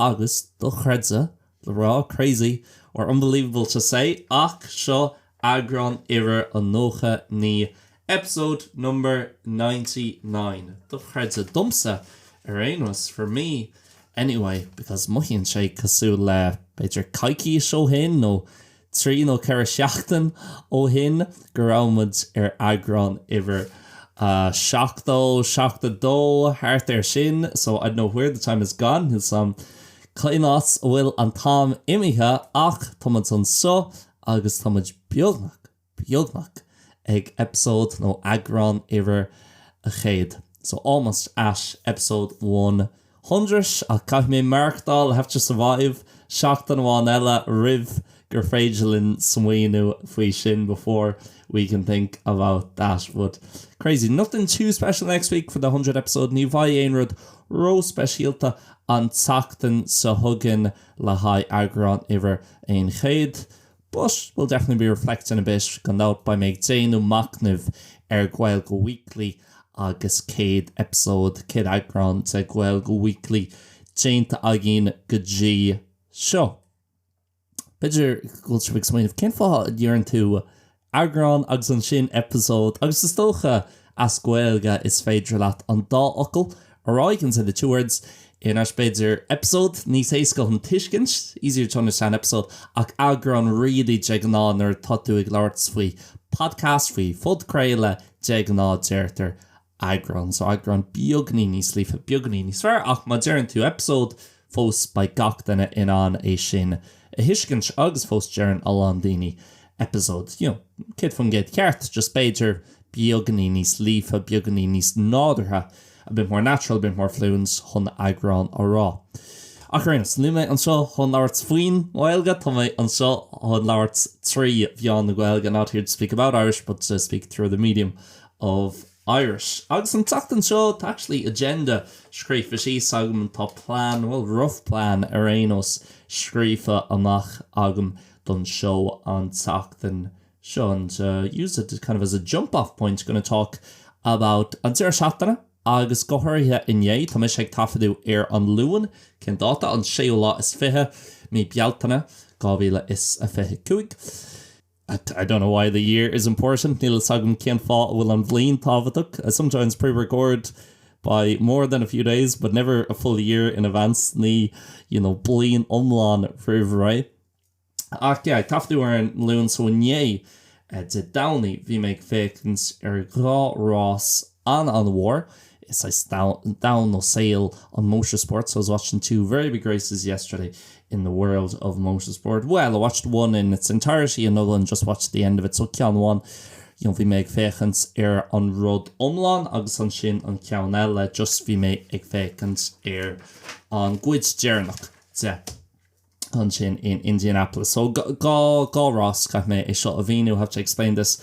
Agus dochreidte, le rá, crazy or unbelievable to say, ach seo eagrán uimhir a 99, episode number ninety nine. Dochreidte, domsa ar aon nós, for me anyway, because mothaíonn sé cosúil le, b'fhéidir, coicís ó shin nó trí nó ceithre sheachtain ó shin go raibh muid ar eagrán uimhir a seachtó, seachtó a dó, thart air sin, so I don't know where the time has gone, níl a fhios agam cén áit a bhfuil an t-am imithe ach tá muid anseo agus tá muid beagnach, beagnach ag episode nó eagrán uimhir a céad, so almost at episode one. hundred ach caithfidh mé maireachtáil have to survive seachtain amháin eile roimh gur féidir linn smaoineamh faoi sin before we can think about that but crazy nothing too special next week for the hundredth episode ní bheidh aon rud ró-speisialta an tseachtain seo chugainn le haghaidh eagrán uimhir a céad. But we'll definitely be reflecting a bit, gan dabht beidh mé ag déanamh machnaimh ar Gaeilge Weekly agus 100 episode, 100 eagrán de Gaeilge Weekly déanta againn go dtí seo. B'fhéidir go bhfuil sibh ag smaoineamh cén fáth a ndeireann tú eagrán agus ansin episode agus is dócha As Gaeilge, is féidir leat an dá fhocal a rá, can say the two words, anois b'fhéidir episode níos éasca chun tuiscint easier to understand, episode ach eagrán really de ghnáth nuair atá tú ag labhairt faoi podcast, faoi phodchraoladh, de ghnáth deirtear eagrán so eagrán beagainín níos líofa, beagainín níos fearr ach má deireann tú episode. fós beidh gach duine in ann é sin a thuiscint agus fós deireann a lán daoine episode, you know, 100% ceart, just b'fhéidir beagainín níos líofa, beagainín níos nádúrtha, a bit more natural, a bit more fluent chun eagrán a rá. Ach ar aon nós, níl mé anseo chun labhairt faoin nGaeilge, tá mé anseo chun labhairt trí mheán na Gaeilge, not here to speak about Irish but to speak through the medium of Irish, Agus an tseachtain seo, tá actually agenda scríofa síos agam, tá plean, bhuel, rough plean ar aon nós, scríofa amach agam don seó an tseachtain seo and use it kind of as a jump off point, going to talk about an deireadh seachtaine agus go háirithe inné, tá mise ag taifeadadh ar an Luan, cén dáta, an séú lá is fiche, mí Bealtaine, 2025. I don't know why the year is important, níl a fhios agam cén fáth a bhfuil an bhliain tábhachtach. I sometimes pre-record by more than a few days, but never a full year in advance, ní, you know, bliain iomlán roimh ré. Ach yeah, taifeadadh ar an Luan so inné, Dé Domhnaigh, bhí mé ag féachaint ar dhá rás, An an-mhór, is é domhan nó saol an motorsport so I was watching two very big races yesterday in the world of motorsport. Bhuel, I watched one in its entirety another one just watched the end of it so ceann amháin, you know, bhí mé ag féachaint ar an rud iomlán agus ansin an ceann eile just bhí mé ag féachaint ar an gcuid deireanach de. ansin in Indianapolis. So dhá rás caithfidh mé é seo a mhíniú have to explain this.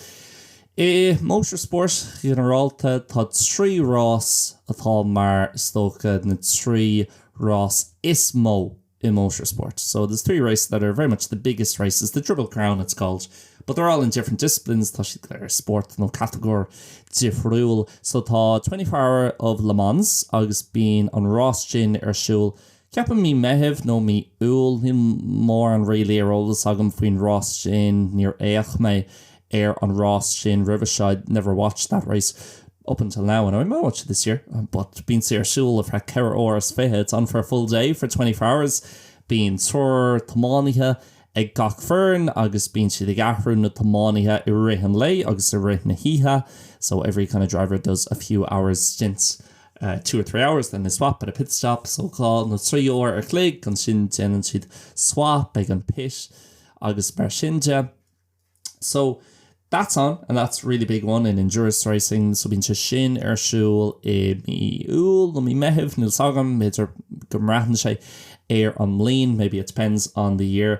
I motorsport ginearálta tá trí rás atá mar is dócha na trí rás is mó i motorsport. So there's three races that are very much the biggest races, the Triple Crown it's called, but they're all in different disciplines, tá siad ar spórt nó catagóir difriúil. So tá 24 Hour of Le Mans agus bíonn an rás sin ar siúl Ceapaim mí Meithimh nó mí Iúil, níl mórán really ar eolas agam faoin rás sin, níor fhéach mé ar an rás sin roimhe seo, I'd never watched that race up until now and I might watch it this year but bíonn sé ar siúl ar feadh ceithre uair is fiche, it's on for a full day, for twenty four hours. Bíonn triúr tiománaithe ag gach foireann agus bíonn siad ag athrú na dtiománaithe i rith an lae agus i rith na hoíche, so every kind of driver does a few hours stints. two or three hours, then they swap at a pit stop, so dhá nó trí uair an chloig, ansin déanann siad swap ag an pit agus mar sin de. So that's on and that's a really big one in endurance racing, so bíonn sé sin ar siúl i mí Iúil nó mí Meithimh, níl 's agam, b'fhéidir go mbraitheann sé ar an mbliain, maybe it depends on the year.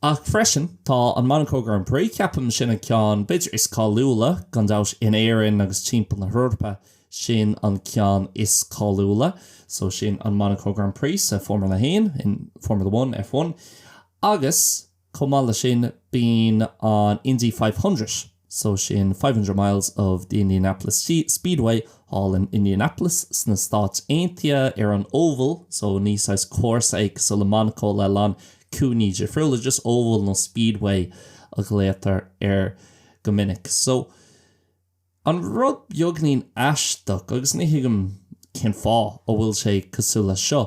Ach freisin tá an Monaco Grand Prix, ceapaim sin an ceann b'fhéidir is cáiliúla gan dabht in Éirinn agus timpeall na hEorpa. sin an ceann is cáiliúla so sin an Monaco Grand Prix sa Formula a hAon, in Formula One, F1, agus chomh maith leis sin bíonn an Indy Five Hundred so sin Five Hundred Miles of the Indianapolis Speedway thall in Indianapolis sna Stáit Aontaithe ar an Oval so ní saghas cúrsa é cosúil le Monaco le a lán cúinní difriúla just Oval nó Speedway a ghlaotar air go minic so An rud beagainín aisteach, agus ní thuigim cén fáth, a bhfuil sé cosúil leis seo,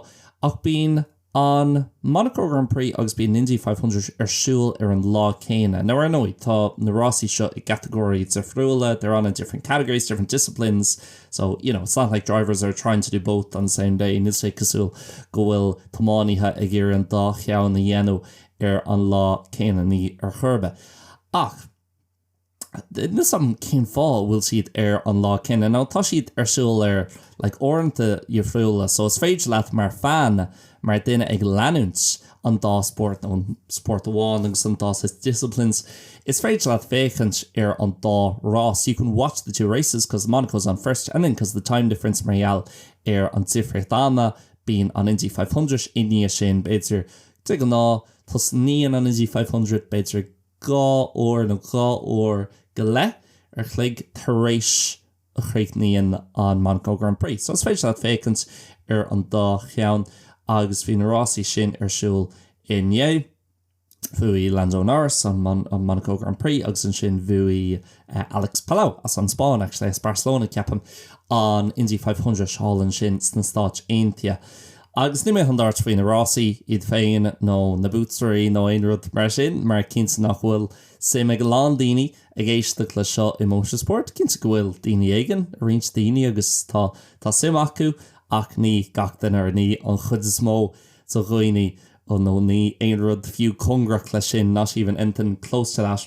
ach bíonn an Monaco Grand Prix agus bíonn an Indy Five Hundred ar siúl ar an lá céanna. Now, ar ndóigh, tá na rásaí seo i gcatagóirí difriúla, they're on in different categories, different disciplines, so, you know, it's not like drivers are trying to do both on the same day, níl sé cosúil go bhfuil tiománaithe ag iarraidh an dá cheann a dhéanamh ar an lá céanna, ní ar chor ar bith. Ach. Níl fhios agam cén fáth a bhfuil siad ar an lá céanna nó tá siad ar siúl ar like uaireanta dhifriúla so is féidir leat mar fan, mar duine ag leanúint an dá spórt nó an spórt amháin agus an dá saghas disciplines, is féidir leat féachaint ar an dá rás you can watch the two races cause Monaco's on first and then cause the time difference mar gheall ar an difríocht ama bíonn an Indy five hundred i ndiaidh sin b'fhéidir de ghnáth tosnaíonn an Indy five hundred b'fhéidir ag dhá uair nó dhá uair go leith a chloig tar éis a chríochnaíonn an Monaco Grand Prix. So is féidir leat féachaint ar an dá cheann agus bhí na rásaí sin ar siúl inné. Bhuaigh Lando Norris an Monaco Grand Prix agus ansin bhuaigh Alex Palou, as an Spáinn actually, as Barcelona ceapaim, an Indy Five Hundred thall ansin sna Stáit Aontaithe. Agus ní mé i ndáiríre faoi na rásaí, iad féin nó na buaiteoirí nó aon rud mar sin, mar cinnte nach bhfuil suim ag a lán daoine ag éisteacht leis seo i Motor Sport. Cinnte go bhfuil daoine éigin, roinnt daoine, agus tá, tá suim acu, ach ní gach duine nó ní an chuid is mó de dhaoine, nó ní aon rud fiú cóngarach leis sin, not even anything close to that.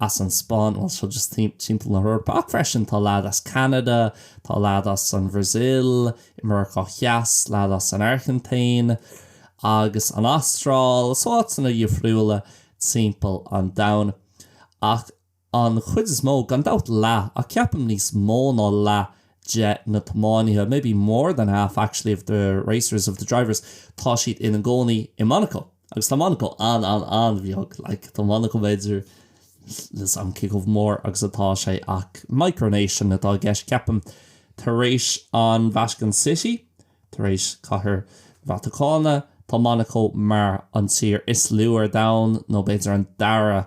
as an Spáinn, bhuel, seo just timpeall na hEorpa, ach freisin tá leaid as Ceanada, tá leaid as an Bhrasil, i Meiriceá Theas, leaid as an Airgintín agus an Astráil, so áiteanna dhifriúla timpeall an domhain. Ach an chuid is mó, gan dabht leath, ach ceapaim níos mó ná leath de na tiománaithe, maybe more than half actually of the racers, of the drivers, tá siad ina gcónaí i Monaco. Agus tá Monacó an-an-an-bheag, like, tá Monacó b'fhéidir, níl fhios a'm cé chomh mór agus atá sé ach micronation atá i gceist ceapaim, tar éis an Vatican City, tar éis Cathair Vatacáine, tá Monacó mar an tír is lú ar domhan nó b'fhéidir an dara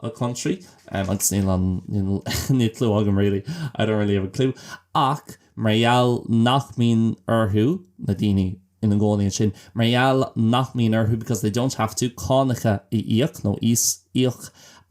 a country agus níl an níl clue agam really I don't really have a clue ach mar gheall nach mbíonn orthu na daoine ina gcónaí ansin mar gheall nach mbíonn orthu because they don't have to cánacha a íoc nó íos íoc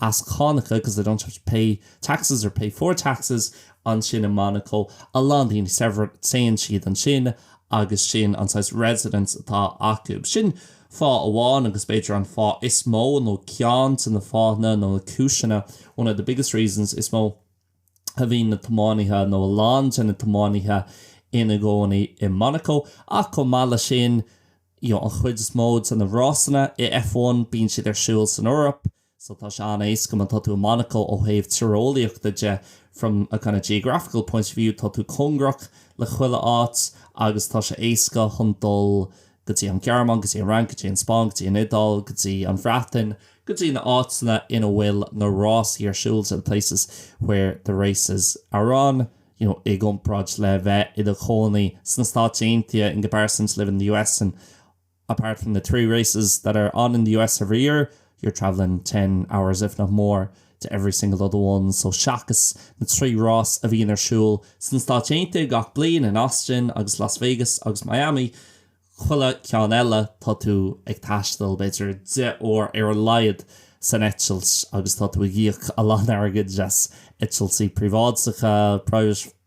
as cánacha because they don't have to pay taxes or pay for taxes ansin i Monaco a lán daoine saibhir téann siad ansin agus sin an saghas residence atá acu sin Fáth amháin, agus b'fhéidir an fáth is mó, nó ceann de na fáthanna nó na cúiseanna, one of the biggest reasons, is mó a bhíonn na tiománaithe, nó a lán de na tiománaithe, ina gcónaí i Monaco. Ach chomh maith leis sin, you know, an chuid is mó de na rásanna i F1, bíonn siad ar siúl san Eoraip. So tá sé an-éasca má tá tú i Monaco ó thaobh tíreolaíochta de, from a kind of geographical point of view tá tú cóngarach le chuile áit agus tá sé éasca chun dul go dtí an Ghearmáin, go dtí an Fhrainc, go dtí an Spáinn, go dtí an Iodáil, go dtí an Bhreatain, go dtí na áiteanna ina bhfuil na rásaí ar siúl, to the places where the races are on, you know i gcomparáid le bheith i do chónaí sna Stáit Aontaithe, in comparison to living in the US and. apart from the three races that are on in the US every year, you're travelling ten hours, if not more, to every single other one. So seachas na trí rás a bhíonn ar siúl sna Stáit Aontaithe gach bliain, in Austin agus Las Vegas agus Miami, chuile cheann eile tá tú ag taisteal b'fhéidir deich uair ar a laghad san eitilt agus tá tú ag íoc a lán airgid as eitiltí príobháideacha, private,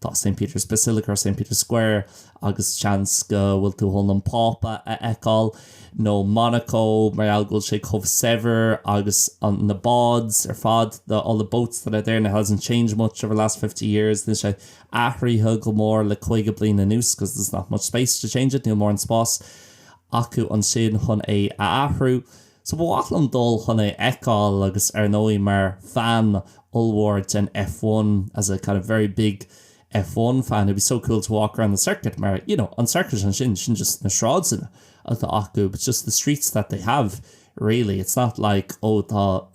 Tá St Peter's Basilica ar St Peter's Square agus seans go bhfuil tú chun an Pápa a fheiceáil, nó Monaco mar gheall go bhfuil sé chomh saibhir agus an, na boats ar fad, the, all the boats that are there and it hasn't changed much over the last fifty years, níl sé athraithe go mór le caoga bliain anuas because there's not much space to change it, níl mórán spáis acu ansin chun é a athrú. So ba mhaith liom dul chun é a fheiceáil agus ar ndóigh mar fan ollmhór den F1, as a kind of very big F1 fan, it'd be so cool to walk around the circuit mar, you know, an circuit ansin, sin just na sráideanna atá acu, but just the streets that they have really, it's not like, oh, tá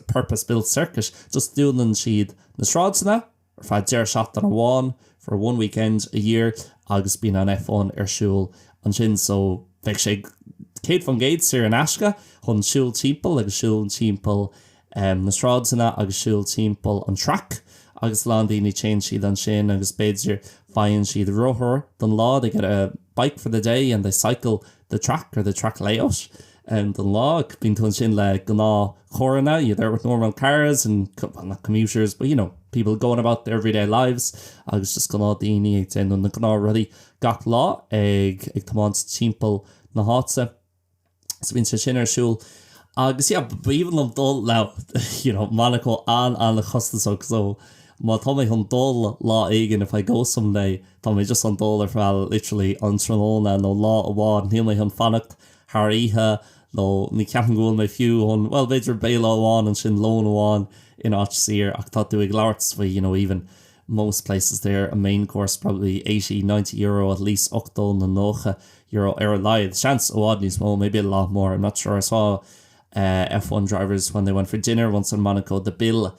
purpose-built circuit, just dúnann siad na sráideanna, ar feadh deireadh seachtaine amháin for a one weekend a year agus bíonn an F1 ar siúl ansin so bheadh sé 100% saor in aisce chun siúl timpeall agus siúl timpeall na sráideanna agus siúl timpeall an track agus a lán daoine téann siad ansin agus b'fhéidir faigheann siad rothar don lá they get a bike for the day and they cycle the track or the track layout. and don lá. Bíonn tú ansin le gnáthcharranna, you're there with normal cars and, well not commuters, but you know, people going about their everyday lives agus just gnáthdaoine ag déanamh na ngnáthrudaí gach lá, ag tiomáint timpeall na háite. So bíonn sé sin ar siúl agus yeah, b'aoibhinn liom dul, you know, Monaco an-an-chostasach so má tá mé chun dul lá éigin, if I go someday, tá mé just chun dul ar feadh literally an tráthnóna nó lá amháin, níl mé chun fanacht thar oíche, nó ní cheapaim go bhfuil mé fiú chun, bhuel, b'fhéidir béile amháin ansin, lón amháin in áit shaor, ach tá tú ag labhairt faoi, you know, even most places there, a main course probably eighty, ninety euro at least, ochtó nó nócha euro ar a laghad, seans i bhfad níos mó, maybe a lot more, I'm not sure, I saw F one drivers when they went for dinner once in Monaco, the bill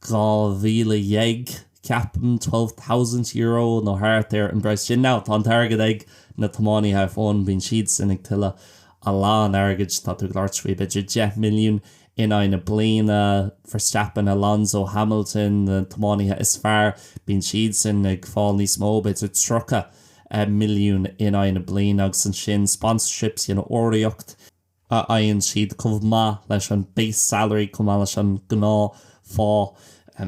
dhá mhíle déag, ceapaim, twelve thousand euro nó thart ar an bpraghas sin. Now, tá an t-airgead ag na tiománaithe ar fónamh, bíonn siadsan ag tuilleamh a lán airgid, tá tú ag labhairt faoi b'fhéidir deich milliún in aghaidh na bliana, Verstappen, Alonso, Hamilton, na tiománaithe is fearr, bíonn siadsan ag fáil níos mó, b'fhéidir tríocha milliún in aghaidh na bliana agus ansin sponsorships, you know, urraíocht. a fhaigheann siad chomh maith leis an base salary chomh maith leis an gnáthphá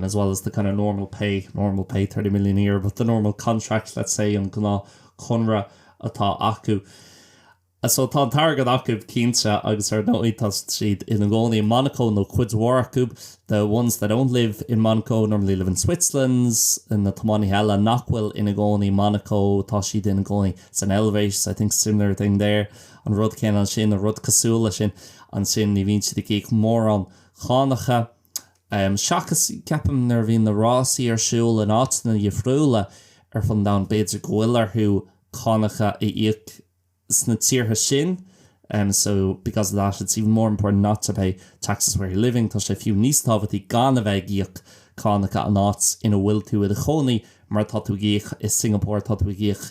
as well as the kind of normal pay, normal pay, thirty million a year, but the normal contract, let's say, an gnáthchonradh atá acu. So tá an t-airgead acu cinnte agus ar ndóigh tá siad ina gcónaí i Monaco nó cuid mhór acu, the ones that don't live in Monaco normally live in Switzerland, na tiománaithe eile nach bhfuil ina gcónaí i Monaco tá siad ina gcónaí san Eilvéis, I think similar thing there. an rud céanna ansin nó rud cosúil leis sin ansin, ní bhíonn siad ag íoc mórán cánacha. Seachas, ceapaim, nuair a bhíonn na rásaí ar siúl in áiteanna difriúla ar fud an domhain, b'fhéidir go bhfuil orthu cánacha a íoc sna tíortha sin, so because of that it's even more important not to pay taxes where you're living, tá sé fiú níos tábhachtaí gan a bheith ag íoc cánacha an áit ina bhfuil tú i do chónaí mar tá tú ag íoc i Singapore, tá tú ag íoc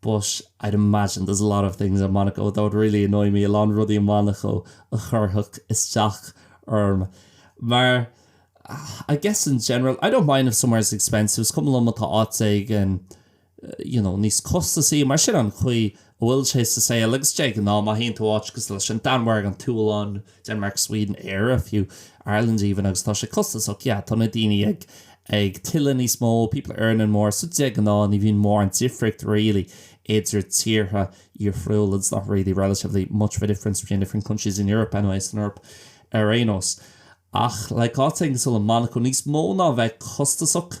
But I'd imagine there's a lot of things in Monaco that would really annoy me, a lán rudaí i Monaco a chuirfeadh isteach orm. Mar I guess in general, I don't mind if somewhere is expensive, is cuma liom má tá áit éigin you know níos costasaí, mar sin an chaoi a bhfuil sé sa saol agus de ghnáth má théann tú áit cosúil leis an Danmhairg, an tSualainn, Denmark, Sweden, Éire, fiú, Ireland even, agus tá sé costasach, yeah, tá na daoine ag, ag tuilleamh níos mó, people are earning more, so de ghnáth ní bhíonn mórán difríocht really idir tíortha difriúla, it's not really relatively much of a difference between different countries in Europe anyway, san Eoraip ar aon nós. Ach, like, áit éigin cosúil le Monaco níos mó ná a bheith costasach,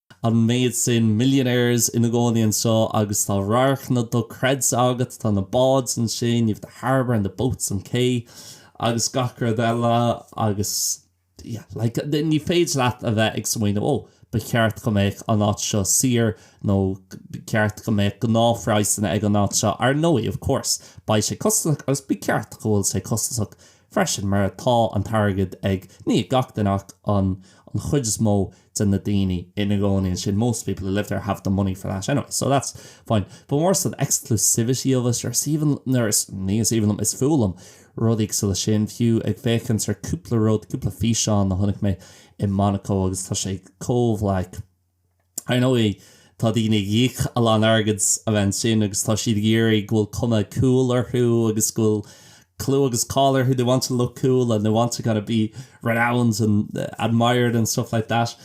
an méid sin millionaires ina gcónaí anseo agus tá radharcanna dochreidte agat, tá na báid ansin, you've the harbour and the boats an cé agus gach rud eile agus yeah like ní féidir leat a bheith ag smaoineamh oh ba cheart go mbeadh an áit seo saor nó ba cheart go mbeadh gnáthphraghsanna ag an áit seo, ar ndóigh of course beidh sé costasach agus ba cheart go bhfuil sé costasach freisin mar tá an t-airgead ag, ní ag gach duine ach an an chuid is mó de na daoine ina gcónaí ansin, most people who live there have the money for that anyway, so that's fine. But more so the exclusivity of it, or is even, nuair is, ní is aoibhinn liom, is fuath liom rudaí cosúil leis sin, fiú ag féachaint ar cúpla rud, cúpla físeán a chonaic mé i Monaco agus tá sé chomh like, Ar ndóigh, tá daoine ag íoc a lán airgid a bheith ansin agus tá siad ag iarraidh go bhfuil cuma cool orthu agus go bhfuil clú agus cáil orthu, they want to look cool and they want to kind of be renowned and admired and stuff like that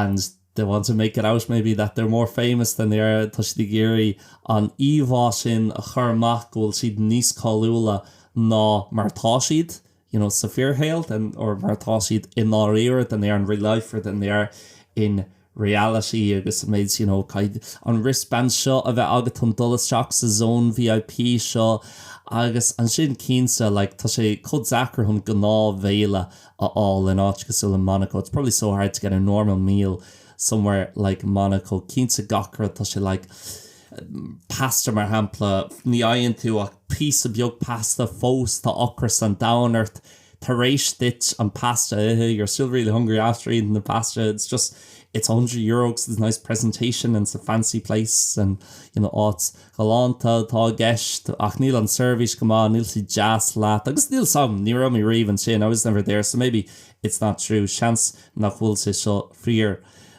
and they want to make it out maybe that they're more famous than they are, tá siad ag iarraidh an íomhá sin a chur amach go bhfuil siad níos cáiliúla ná mar atá siad. you know, sa fíorshaol, or mar atá siad i ndáiríre than they are in real life or than they are in reality agus an méid, you know, cad, an wristband seo a bheith agat chun dul isteach sa zone VIP seo agus ansin cinnte, like, tá sé chomh deacair chun gnáthbhéile a fháil in áit cosúil le Monaco, it's probably so hard to get a normal meal somewhere like Monaco, cinnte gach rud tá sé like, pasta mar shampla, ní fhaigheann tú ach píosa beag pasta, fós tá ocras an domhain ort tar éis duit an pasta a ithe, you're still really hungry after eating the pasta, it's just, it's a hundred euro because there's nice presentation and it's a fancy place and, you know, áit ghalánta atá i gceist ach níl an seirbhís go maith, níl siad deas leat agus níl 's a'm, ní raibh mé riamh ansin, I was never there, so maybe it's not true, seans nach bhfuil sé seo fíor.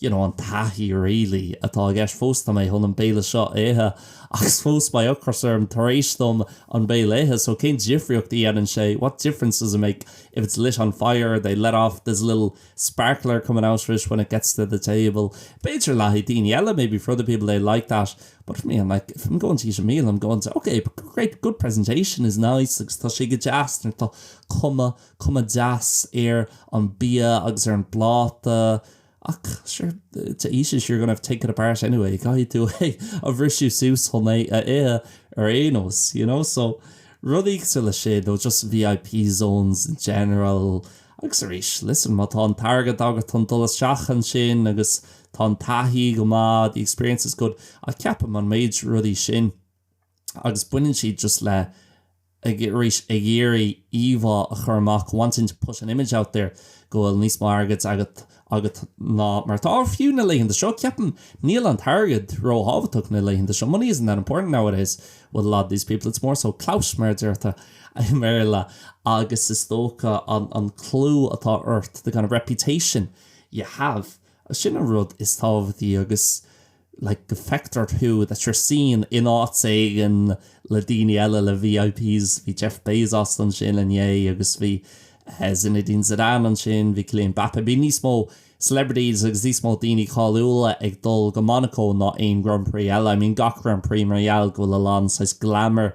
you know an taithí really atá i gceist fós tá mé chun an béile seo a ithe agus fós beidh ocras orm tar éis dom an béile a ithe so cén difríocht a dhéanann sé what difference does it make if it's lit on fire they let off this little sparkler coming out of it when it gets to the table b'fhéidir le haghaidh daoine eile maybe for other people they like that but for me I'm like if I'm going to eat a meal I'm going to okay great good presentation is nice agus tá sé go deas nuair tá cuma cuma deas ar an bia agus ar an bpláta ach sure to eat it you're gonna have to take it apart anyway caithfidh tú é a bhrisiú suas chun é a ithe ar aon nós you know so rudaí cosúil leis sin nó just VIP zones in general agus arís listen má tá an t-airgead agat chun dul isteach ansin agus tá an taithí go maith the experience is good ach ceapaim an méid rudaí sin agus baineann siad just le, ag, arís, ag iarraidh íomhá a chur amach, wanting to put an image out there, go bhfuil níos mó airgead agat, agat ná mar atá. Fiú na laethanta seo, ceapaim, níl an t-airgead róthábhachtach na laethanta seo, money isn't that important nowadays with a lot of these people, it's more so clout, mar a deirtear i mBéarla, agus is dócha an, an clú atá ort, the kind of reputation you have, sin an rud is tábhachtaí agus. like go feictear thú that you're seen in áit éigin le daoine eile le VIPs bhí Jeff Bezos ansin inné agus bhí Zinedine Zidane ansin bhí Kylian Mbappé bíonn níos mó celebrities agus níos mó daoine cáiliúla ag dul go Monaco ná aon Grand Prix eile I mean gach Grand Prix mar gheall go bhfuil a lán saghas glamour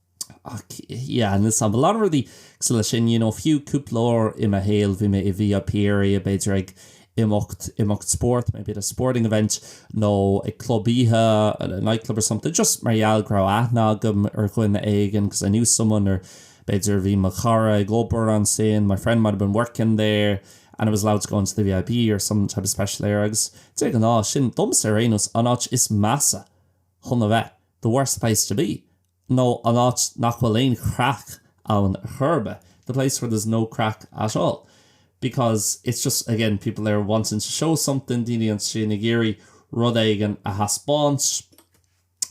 Ach, yeah, and there's a lot of rudaí cosúil leis sin, you know, fiú cúpla uair i mo shaol, bhí mé i VIP area, b'fhéidir ag imeacht, imeacht spóirt, maybe at a sporting event, nó ag club oíche, at a nightclub or something, just mar gheall go raibh aithne agam ar dhuine éigin, because I knew someone, or b'fhéidir bhí mo chara ag obair ansin, my friend might have been working there, and I was allowed to go into the VIP or some type of special area, agus de ghnáth, sin, domsa ar aon nós, an áit is measa chun a bheith, the worst place to be, nó an áit nach bhfuil aon chraic ann ar chor ar bith, the place where there's no crack at all. Because it's just, again, people there wanting to show something, daoine ansin ag iarraidh rud éigin a thaispeáint,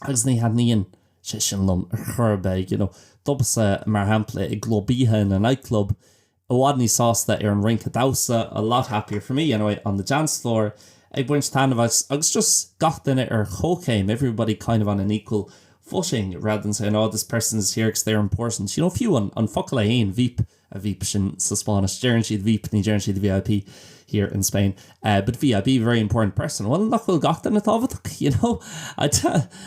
agus ní thaitníonn sé sin liom ar chor ar bith, you know. Domsa, mar shampla, i gclub oíche, in a nightclub, i bhfad níos sásta ar an rince damhsa a lot happier for me, anyway on the dance floor ag baint taitneamh as agus just gach duine ar chomhchéim everybody kind of on an equal footing rather than saying, oh, this person is here because they're important. You know, fiú an an focal é fhéin, veep, a veep sin sa Spáinnis, deireann siad veep, ní deireann siad VIP here in Spain. but VIP very important person. Bhuel, nach bhfuil gach duine tábhachtach, you know?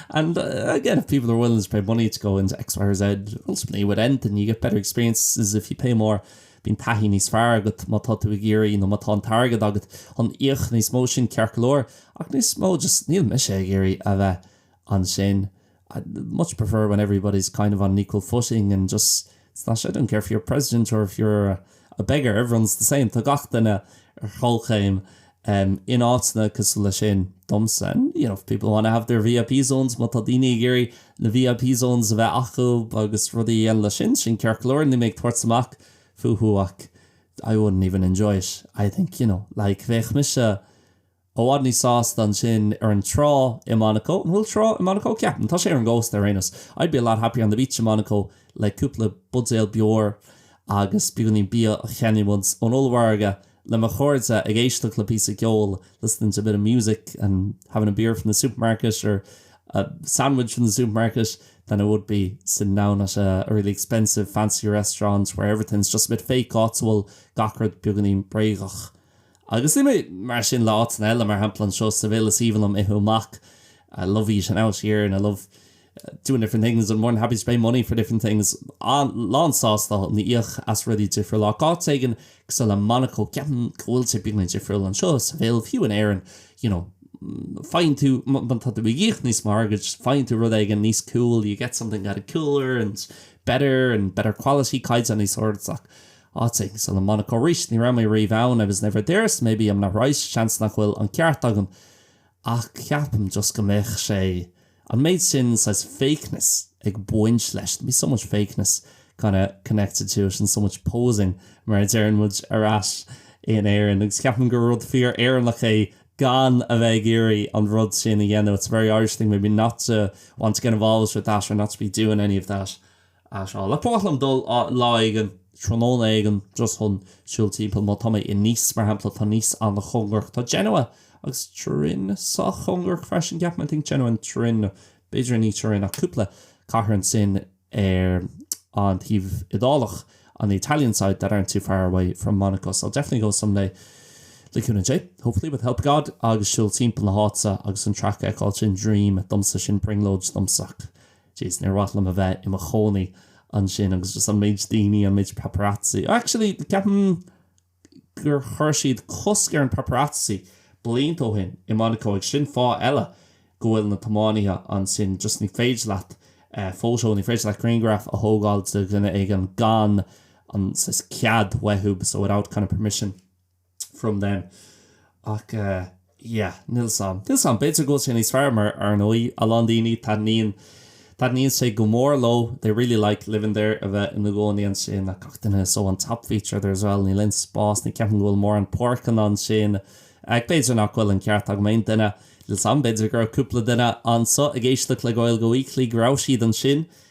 And, again, if people are willing to pay money to go into X, Y or Z, ultimately with anything you get better experiences if you pay more, bíonn taithí níos fearr agat má tá tú ag iarraidh nó má tá an t-airgead agat chun íoc níos mó, sin ceart go leor, ach níos mó just níl mise ag iarraidh a bheith ansin. I'd much prefer when everybody's kind of on an equal footing and just it's not, I don't care if you're president or if you're a beggar, everyone's the same, tá gach duine ar chomhchéim in áiteanna cosúil leis sin, domsa. And you know, if people want to have their VIP zones, má tá daoine ag iarraidh na VIP zones a bheith acu agus rudaí a dhéanamh leis sin, sin ceart go leor, níl mé ag tabhairt amach fúthu ach I wouldn't even enjoy it, I think, you know, like bheadh mise, I bhfad níos sásta ansin ar an trá i Monaco. An bhfuil trá i Monaco? Ceapaim. Tá sé ar an gcósta ar aon nós. I'd be a lot happier on the beach in Monaco le cúpla buidéal beoir agus beagáinín bia a cheannaíonn muid ón ollmhargadh, le mo chairde, ag éisteacht le píosa ceoil, listening to a bit of music and having a beer from the supermarket or a sandwich from the supermarket than I would be sitting down at a really expensive, fancy restaurant where everything's just a bit fake, áit a bhfuil gach rud beagáinín bréagach. Agus ní mar sin le áiteanna eile, mar shampla anseo sa Vale is aoibhinn liom ithe amach, I love eating out here and I love doing different things and more than happy to pay money for different things, lán sásta íoc as rudaí difriúla ach áit éigin cosúil le Monaco ceapaim go bhfuil sé beagáinín difriúil anseo sa Vale, fiú in Éirinn you know faigheann tú má tá tú ag íoc níos mó airgid faigheann tú rud éigin níos cool, you get something that is cooler and better and better quality caighdeán níos airde ach. Áit ar nós Monaco arís, ni raibh mé riamh ann, I was never there, so maybe I'm not right, seans nach bhfuil an ceart agam ach ceapaim just go mbeadh sé, an méid sin saghas fakeness ag baint leis, there'd be so much fakeness kind of connected to it and so much posing mar a deireann muid ar ais in Éirinn agus ceapaim gur rud fíor Éireannach é gan a bheith ag iarraidh an rud sin a dhéanamh, it's a very Irish thing maybe not to want to get involved with that or not to be doing any of that. Ar seo ab fhearr liom dul lá éigin, tráthnóna éigin, just chun siúl timpeall? Má tá mé i Nice, mar shampla, tá Nice an-chóngarach. Tá Genoa agus Turin sách cóngarach freisin, ceapaim. I think Genoa and Turin, b'fhéidir ní Turin ach cúpla cathair ansin ar an taobh Iodálach, on the Italian side that aren't too far away from Monaco. So I'll definitely go some day, le cúnamh Dé, hopefully, with help of God, agus siúl timpeall na háite agus an traic a fheiceáil, sin dream domsa, sin brionglóid domsa. Jeez, níor mhaith liom a bheith i mo chónaí ansin agus just an méid daoine, an méid paparazzi. Actually, ceapaim gur chuir siad cosc ar an paparazzi blianta ó shin i Monaco agus sin fáth eile go bhfuil na tiománaithe ansin just ní féidir leat photo, ní féidir leat grianghraf a thógáil de dhuine éigin gan an saghas cead uathu, so without kind of permission. from them ach eh yeah níl fhios 'am níl fhios 'am b'fhéidir go bhfuil sé níos fearr mar ar ndóigh a lán daoine taitníonn sé go mór leo they really like living there a bheith ina gcónaí ansin ach a dhuine so an top feature there as well níl aon spás ní cheapaim go bhfuil mórán páirceanna ansin ach b'fhéidir nach bhfuil an ceart agam aon duine níl fhios 'am b'fhéidir go raibh cúpla duine anseo ag éisteacht le Gaeilge Weekly go raibh siad ansin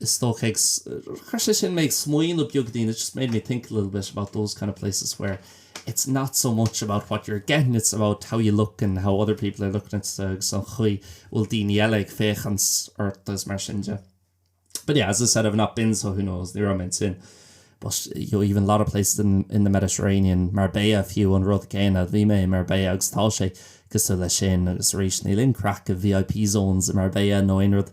is dócha, agus chuir sé sin mé ag smaoineamh beagainín, it just made me think a little bit about those kind of places where it's not so much about what you're getting, it's about how you look and how other people are looking at you agus an chaoi bhfuil daoine eile ag féachaint ort agus mar sin de. But yeah, as I said, I've not been so who knows, ní raibh mé ansin. But you know, even a lot of places in the Mediterranean, Marbella fiú an rud céanna, bhí mé i Marbella agus tá sé cosúil le sin agus arís níl aon craic i VIP zones i Marbella nó aon rud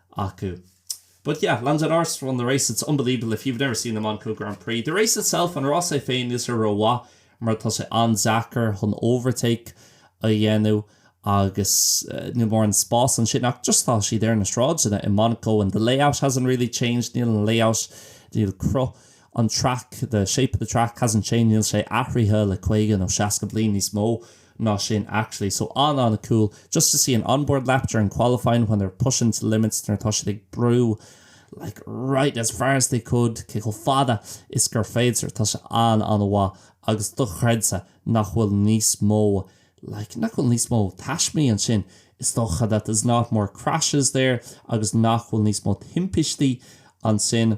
acu. But yeah, Lando Norris won the race, it's unbelievable if you've never seen the Monaco Grand Prix. The race itself, an rás é féin, níl sé rómhaith mar tá sé an-deacair chun overtake a dhéanamh agus níl mórán spáis ansin ach just tá siad ar na sráideanna i Monaco and the layout hasn't really changed, níl an layout, níl cruth an track, the shape of the track hasn't changed, níl sé athraithe le 50 nó 60 bliain, níos mó. ná sin actually, so an an-cool just to see an onboard lap during qualifying when they're pushing the limits nuair atá siad ag brú like right as far as they could cé chomh fada is gur féidir tá sé an an-mhaith agus dochreidte nach bhfuil níos mó like nach bhfuil níos mó taismí ansin is dócha that there's not more crashes there agus nach bhfuil níos mó timpistí ansin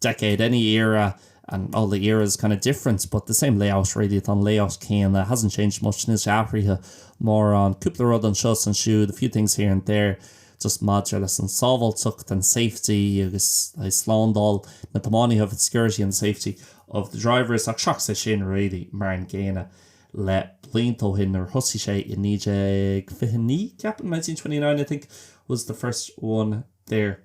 decade, any era, and all the eras kind of different but the same layout really, tá an layout céanna, it hasn't changed much, níl sé athraithe mórán, cúpla rud anseo is ansiúd, a few things here and there, just maidir leis an tsábháilteacht and safety agus, aye, slándáil na dtiománaithe of its security and the safety of the drivers ach seachas é sin really, mar an gcéanna le blianta ó shin nuair a thosaigh sé i 1929 ceapaim, nineteen twenty nine I think was the first one there.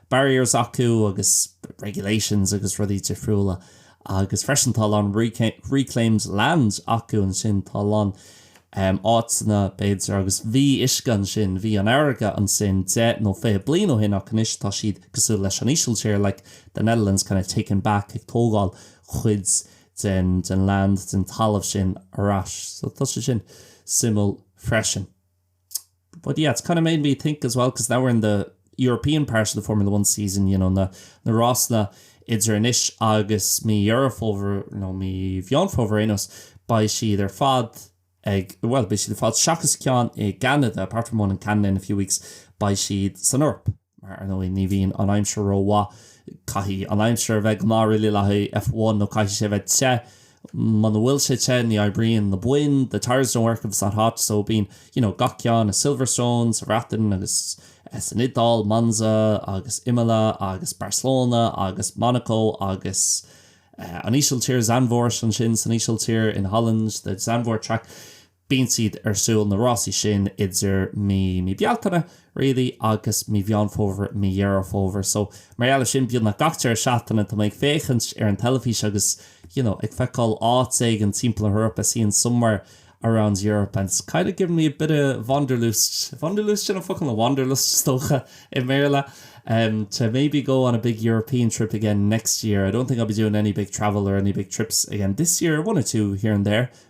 barriers acu agus regulations agus rudaí difriúla agus freisin tá a lán reclaimed land acu ansin, tá a lán áiteanna b'fhéidir agus bhí uisce ansin, bhí an fharraige ansin deich nó fiche bliain ó shin ach anois tá siad cosúil leis an Ísiltír, like the Netherlands kind of taking back, ag tógáil cuid den land, den talamh sin ar ais. So tá sé sin suimiúil freisin. But yeah, it's kind of made me think as well because now we're in the European part of the Formula One season, you know, na, na rásanna idir anois agus mí Dheireadh Fómhair, nó mí Mheán Fómhair ar aon nós, beidh siad ar fad ag, bhuel, beidh siad ar fad seachas ceann i gCeanada, apart from one in Canada in a few weeks, beidh siad san Eoraip. Mar, ar ndóigh, ní bhíonn an aimsir rómhaith. Caithfidh an aimsir a bheith go maith really le haghaidh F1 nó caithfidh sé a bheith te. Muna bhfuil sé te ní oibríonn na boinn, the tyres don't work if it's not hot. So bíonn, you know, gach ceann, Silverstone sa Bhreatain agus san Iodáil, Monza agus Imola agus Barcelona agus Monaco agus an Ísiltír, Zandvoort ansin san Ísiltír, in Holland, the Zandvoort track. Bíonn siad ar siúl, na rásaí sin, idir mí, mí Bealtaine, really, agus mí Mheán Fómhair, mí Dheireadh Fómhair. So, mar gheall air sin, beagnach gach deireadh seachtaine, tá mé ag féachaint ar an teilifís agus, you know, ag feiceáil áit éigin timpeall na hEorpa, seeing somewhere around Europe and it's kind of giving me a bit of Wanderlust, Wanderlust, sin an focal, nó Wanderlust, is dócha, i mBéarla, em, to maybe go on a big European trip again next year. I don't think I'll be doing any big travel or any big trips again this year, one or two here and there,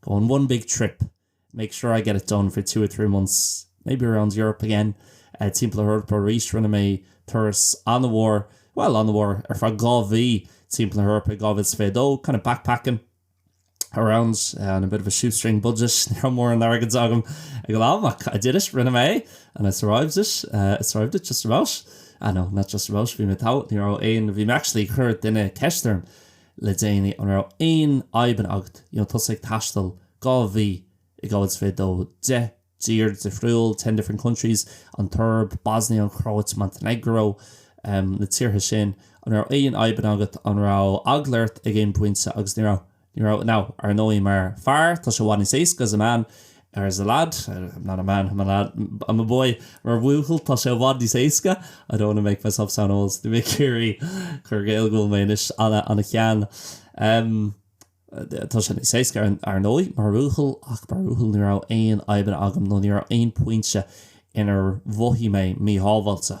go on one big trip make sure I get it done for two or three months maybe around Europe again timpeall na hEorpa arís rinne mé turas an-mhór bhuel an-mhór ar feadh dhá mhí timpeall na hEorpa i 2022 kind of backpacking around on a bit of a shoestring budget ní raibh mórán airgid agam ag an am ach I did it rinne mé é and I survived it I survived it just about ah no not just about bhí mé togha ní raibh aon bhí mé actually chuir duine ceist orm le déanaí, an raibh aon fhadhb agat? You know tusa ag taisteal dhá mhí i 2022, deich dtír difriúil, ten different countries, an tSoirb, Bosnia, an Chróit, Montenegro, em, na tíortha sin, an raibh aon fhadhbanna agat, an raibh eagla ort ag aon phointe agus ní raibh, ní raibh. Now, ar ndóigh mar fear tá sé i bhfad níos éasca as a man, As a lad, I'm not a man, I'm a lad, I'm a boy Mar bhuachaill, tá sé i bhfad níos éasca I don't want to make myself sound old Bhí mé ag iarraidh cur i gcéill go bhfuil mé anois ana-shean Tá sé níos éasca, ar ndóigh, mar bhuachaill Ach mar bhuachaill, ní raibh aon fhadhbanna agam Nó ní raibh aon phointe inar mhothaigh mé míshábháilte.